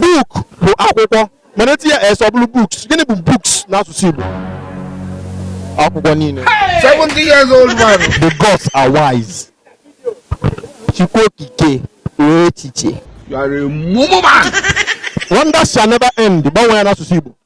Book bụ akwụkwọ mana etinye s ọ bụrụ books. Gịnị bụ books n'asụsụ Igbo? Akwụkwọ niile. 70 years old man. The gods are wise. Chukwu okike nwee echiche. You are a mumu man. Wonders shall never end. Gbanwee ya n'asụsụ Igbo.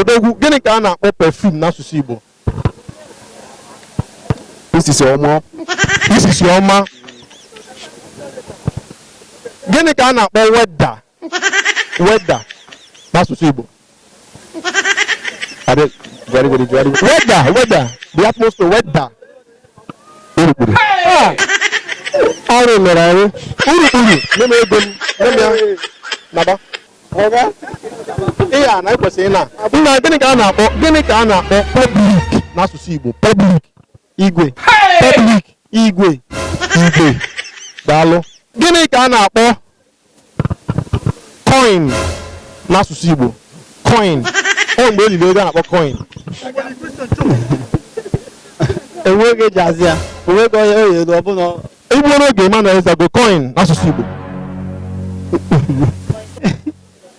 odogwu gịnị ka a na-akpọ perfume n'asụsụ igbo isisi ọma isisi ọma gịnị ka a na-akpọ weather weather n'asụsụ Igbo Are they- very, very, very good. weather weather the atmosphere weather urukpuru Ah! arụ mere arụ urukpuru nye m ego m nye m ya naba oga ihe a na ekwesịghị na nna gịnị ka a na-akpọ gịnị ka a na-akpọ public n'asụsụ Igbo public igwe public igwe igwe daalụ gịnị ka a na-akpọ coin n'asụsụ Igbo coin ọ mgbe eliri ego a na-akpọ coin enweghị ejizi ya onweghị onye oyi elu ọbụla igbuo n'oge Emmanuel Ezeago coin n'asụsụ Igbo